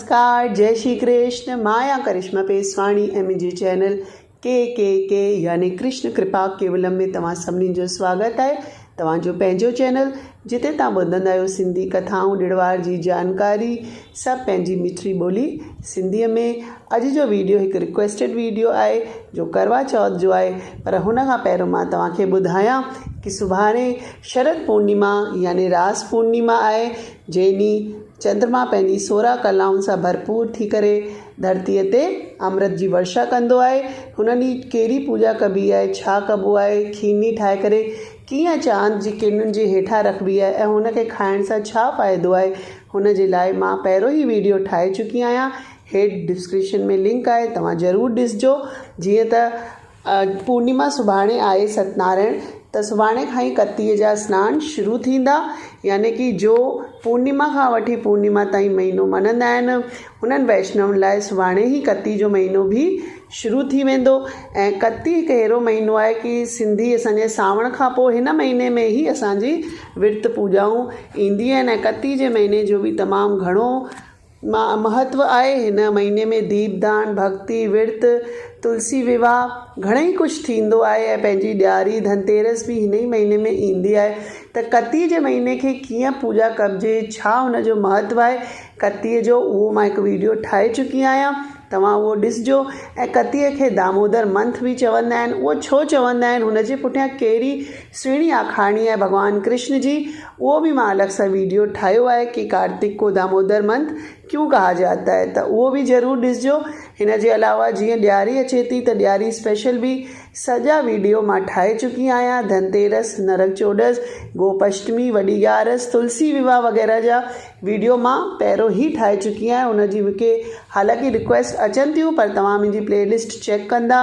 نمسڪار جئي شري ڪرشن مان آهيان ڪرشما پيسواڻي ۽ منهنجي چينل ڪي ڪي ڪي يعني ڪرشن ڪرپا ڪيولم ۾ توهان سڀني جو سواگت آهي توهان جو پنهنجو چينل جتي توهان ٻڌندا آهيو سنڌي ڪٿائون ڏڙوار جي جانڪاري سڀ پنهنجي مٺڙي ٻولي سنڌي ۾ اڄ جو ويڊيو هڪ رڪويسٽيڊ ويڊيو آهي جو ڪروا چوٿ جو آهي پر هن کان پهريون مان توهان کي ٻڌايان ڪي سڀاڻي شرد پورنيما يعني راس پورنيما آهي جنهن ڏينهن چندرما پنهنجي سورهن ڪلائن سان ڀرپور ٿي ڪري ڌرتيء تي امرت جي ورشا ڪندو آهي. هن ڏينهن ڪهڙي پوڄا ڪبي آهي، ڇا ڪبو آهي، کيرني ٺاهي ڪري ڪيئن چاند جي ڪرنن جي هيٺان رکبي آهي ۽ هن کي کائڻ سان ڇا فائدو آهي، هن جي لاء مان پهريون ئي ويڊيو ٺاهي چڪي آهيان. هيٺ ڊسڪرپشن ۾ لنڪ آهي، توهان ضرور ڏسجو جيئن ته پورنيما سڀاڻي آهي ستنارائڻ ته سڀاڻي کان ئي ڪتيء جا سنان شروع ٿيندا يعني ڪي جو پورنيما کان وٺي پورنيما تائين مهينو مڃندا آهن انهن ويشنون لاء سڀاڻي ئي ڪتي جو مهينو به شروع ٿي ويندو ۽ ڪتي هڪ اهڙو مهينو آهي ڪي سنڌي اسان جي سانوڻ کان پوء هن مهيني ۾ ئي اسان جي ورت پوڄائون ايندي آهن ۽ ڪتي جي مهيني جو به تمام گهڻو مهتو آهي هن مهيني ۾ ديپ دان، ڀڳتي، ورت، تلسي ويواهه گهڻئي ڪجهه ٿيندو آهي ۽ پنهنجي ڏياري ڌنتيرس به هن ئي مهيني ۾ ايندي آهي ته ڪتي جي مهيني کي ڪيئن پوڄا ڪبجي ڇا هن جو مهتو آهي ڪتي جو اهو مان هڪ ويڊيو ٺاهي چڪي آهيان توهان اهو ڏسجو ۽ ڪتي کي دامودر منٿ به چوندا آهن اهو ڇو چوندا آهن هن جي پٺيان ڪهڙي سهڻي آکاڻي آهي ڀڳوان ڪرشن جي اهو به مان الڳ سان ويڊيو ٺاهيو آهي ڪي ڪارتڪ ڪو دامودر منٿ ڪيون ڪها جاتا هي ته اهو به ضرور ڏسجو هن جي علاوه جيئن ڏياري اچي ٿي ته ڏياري اسپيشل به سڄا ويڊيو مان ٺاهي چڪي آهيان ڌن تيرس نرڪ چوڏس گوپ اشٽمي وڏي ڳارس تلسي وواهه وغيره جا ويڊيو مان پهرو هي ٺاهي چڪي آهيان ان جي مونکي حالانڪه رڪويسٽ اچن ٿيون پر توهان منهنجي پلي لسٽ چيڪ ڪندا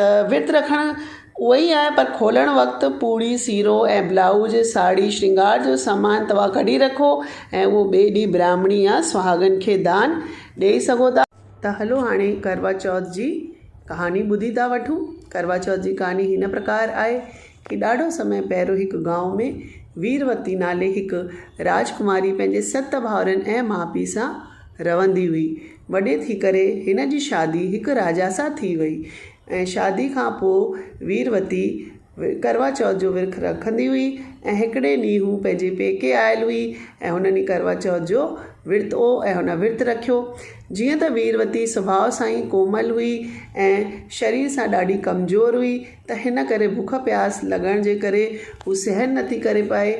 ته ورت رکڻ اهو ئي آهي پر کولڻ وقت پوڙهي، سيرو ۽ بلائوز، ساڙهي، شرنگار جو سامان توهان ڪڍي رکو ۽ اهو ٻئي ڏينهن براهمڻي يا سهاڳن کي دان ڏيئي سگهو ٿا. ته هلو هاڻي ڪروا چوٿ جي ڪهاڻي ٻڌي ٿا وٺون. ڪروا چوٿ جي ڪهاڻي هن پرڪار آهي ڪي ڏاڍو سمي پهريون هڪ گائون ۾ ويروتي نالي هڪ راجڪماري پنهنجي ست ڀائرن ۽ ماء پيء سان رهندي هئي. وڏي ٿي ڪري هن جي شادي هڪ راجا سان ٿي وئي ۽ شادي کان پوء ويروتي ڪروا چوٿ جو ورک رکندي هئي ۽ هڪڙي ڏينهن هو پنهنجي پيڪي آيل هئي ۽ هن ڏينهن ڪروا چوٿ جو ورت هو ۽ هن ورت رکيو. جيئن ته ويروتي سڀاء سان ئي ڪومل هئي ۽ شرير سان ڏاڍي ڪمزور هئي ته هن ڪري بک پياس لڳڻ جي ڪري هو سهن نه ٿي ڪري پائي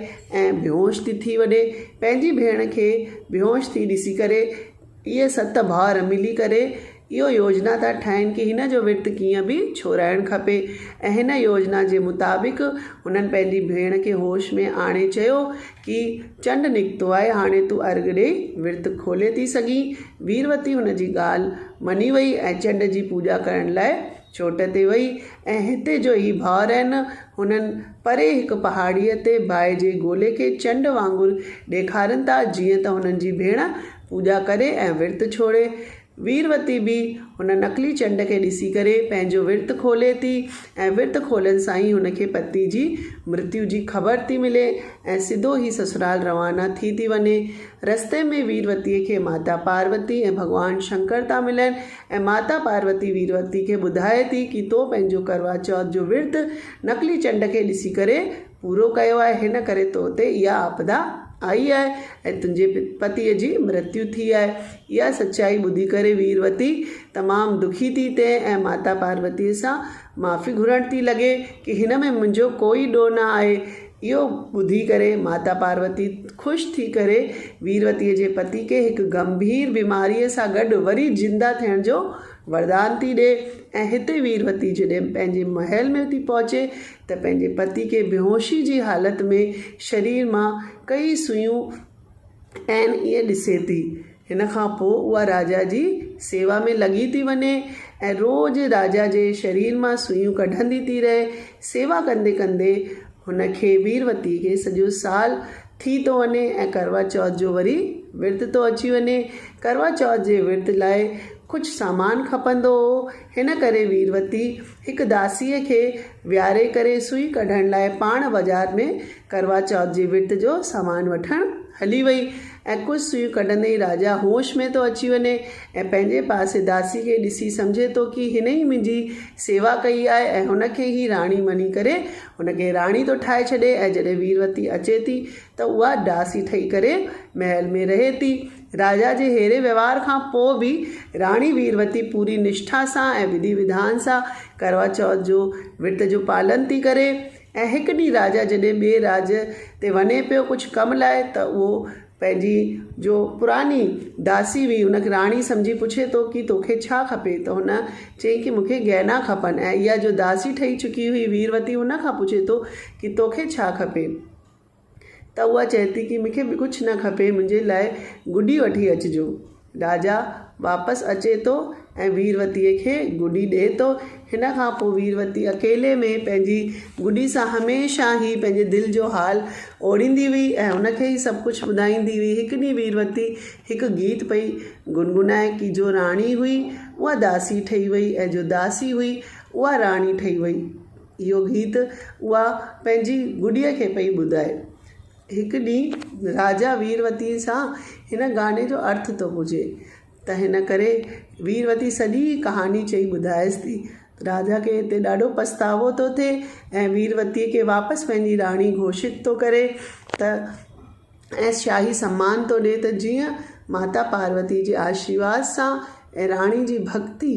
۽ بيهوش ٿي ٿي وڏي پنهنجي ڀيڻ کي بيهوش ٿي ڏسي ڪري اهي ست ڀائر ملي ڪري اهو يوجنا ٿا ٺاهين ڪي هن جو ورت ڪيئن به ڇورائڻ کپي ۽ هن يوجنا جي مطابق هنن پنهنجي ڀيڻ کي هوش ۾ آڻي چيو ڪي چنڊ نڪتو آهي هاڻي تون ارگهه ڏئي ورت کولي ٿي سگهين ويروتي هن جي ڳالهه مڃي وئي ۽ چنڊ جي پوڄا ڪرڻ لاء چوٽ تي وئي ۽ هتي جو هي ڀائر آهن هنن پري هڪ پهاڙيء تي باهه جي گولي کي چنڊ وانگر ڏيکارين ٿا، جيئن ته هنن جي ڀيڻ پوڄا ڪري ۽ ورت ڇوڙي. ويروتي به هن نقلي چنڊ کي ڏسي ڪري پنهنجو ورت کولي ٿي ۽ ورت کولڻ سان ئي هن کي پتي جي مرتيو جي خبر ٿي ملي ۽ سڌو هي سسرال روانا ٿي ٿي وڃي. رستي ۾ ويروتيء کي ماتا پاروتي ۽ ڀڳوان شنڪر ٿا ملن ۽ ماتا پاروتي ويروتي کي ٻڌائي ٿي ڪي تو پنهنجو ڪروا چوٿ جو ورت نقلي چنڊ کي ڏسي ڪري پورو ڪيو آهي، هن ڪري تو تي اها آپدا آئي آهي ۽ تنهنجي پتيء جي مرتيو ٿي آهي. اها سچائي ٻڌي ڪري ويروتي تمام دکي ٿي ٿئي ۽ ماتا پاروتيء سان معافي گهرڻ ٿي لڳي ڪي هن ۾ منهنجو ڪوئي ڏوهه نه آهي. اهو ٻڌي ڪري ماتا پاروتي خوش ٿي ڪري ويروتيء جي پتي کي هڪ گنڀير بيماريء سان گڏ وري زنده ٿيڻ جو وردان ٿي ڏي ۽ هتي ويروتي جڏهن پنهنجي محل ۾ ٿي پهچي ته پنهنجي پتي کي بيهوشي جي حالت ۾ شرير مان ڪيئي سوئون ۽ ائين ڏسي ٿي. هن کان پوء اها راجا جي سيوا ۾ لڳي ٿي وڃي ۽ روز راجا جي شرير مان سوئيون ڪڍندي ٿي رهي. سيوا ڪندي ڪندي هن کي، ويروتي کي، سڄو سال ٿي ٿو وڃي ۽ ڪروا چوٿ جو وري ورت ٿو اچي وڃي. ڪروا چوٿ جي ورت لاء ڪجهه سامان کپندو هو، هن ڪري ويروتي هڪ داسيء کي ويهاري ڪري سوئي ڪڍڻ لاء پاڻ بازار ۾ ڪروا چوٿ جي ورت جو سامان وٺڻ هلي وئي ۽ ڪجهه سوئيون ڪڍندي ئي راجا هوش ۾ ٿو اچي وڃي ۽ پنهنجي پاسي داسي کي ڏسي سمجهي ٿو ڪي هن ئي منهنجي سيوا ڪئي آهي ۽ هن کي ئي راڻي مڃي ڪري هن کي راڻي ٿو ٺاهي ڇڏي ۽ جڏهن ويروتي اچي ٿي ته اها داسي ٺهي ڪري محل ۾ رهي ٿي. راجا جي ههڙي وهنوار کان پوء به راڻي ويروتي پوري نشٺا سان ۽ وڌي وڌان سان ڪروا چوٿ جو ورت جو پالن ٿي ڪري ۽ هڪ ڏينهن راجا جڏهن ٻئي راڄ تي وڃي پيو ڪجهه ڪم لاء ته اهو پنهنجي جو پراني داسي هئي ان کي راڻي سمجهي پڇي ٿو ڪي توکي ڇا کپي ته هن چئي ڪي مونکي گهنا کپن ۽ اها جو داسي ٺهي چڪي هئي ويروتي هن کان پڇي ٿو ڪي توکي ڇا کپي ته اها چئي ٿي ڪي مونکي ڪجهه نه کپي منهنجي لاء گڏي وٺي اچجو. راجا واپس اچي ٿو ۽ ويروتيء کي گڏي ڏئي ٿو. هن کان پوء ويروتي اڪيلي ۾ پنهنجي گڏي سان هميشه هي پنهنجي دل جو حال اوڙيندي هئي ۽ هن کي ئي سڀ ڪجهه ٻڌائيندي هئي. هڪ ڏينهن ويروتي هڪ گيت پئي گنگنائي ڪي جو راڻي هئي اها داسي ٺهي وئي ۽ جو داسي هئي اها راڻي ٺهي وئي. اهو گيت اها پنهنجي گڏيء کي پئي ٻڌائي. هڪ ڏينهن راجا ويروتيء سان هن گاني جو ارٿ ٿو پڇي ته هن ڪري ويروتي سڄي ڪهاڻي چئي ٻڌائيس ٿي. راجا کي هتي ڏاڍو پڇتاوو ٿو ٿئي ۽ ويروتيء کي واپس پنهنجي راڻي گهوشت ٿو ڪري ته ۽ شاهي سمان ٿو ڏئي ته جيئن ماتا پاروتي جي آشيرواد سان ۽ راڻي جي ڀڳتي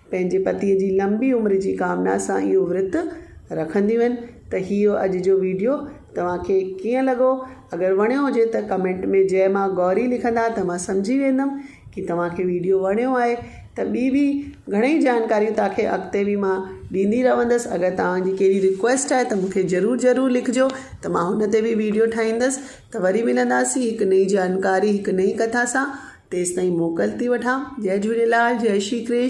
پنهنجي پتيء جي لنبي عمر جي ڪامنا سان اهو ورت رکنديون آهن ته هيء اڄ جو ويڊيو توهان کي ڪيئن لڳو؟ اگر وڻيو هجي ته ڪمينٽ ۾ جئه ماء گوري لکندا ته مان سمجهي ويندم ڪي توهان کي ويڊيو وڻيو آهي ته ٻي به گهڻئي جانڪاريون توهان کي اڳتي به مان ڏيندي رهندس اگر توهان جي ڪهڙي رڪويسٽ آهي ته مون کي ضرور ضرور لکجو ته مان هن تي به ويڊيو ٺاهيندس ته وري ملنداسين هڪ نئين جانڪاري هڪ نئين ڪٿا سان تيستائين موڪل ٿي وٺان جئه جهوليلال جئه شري ڪرشن.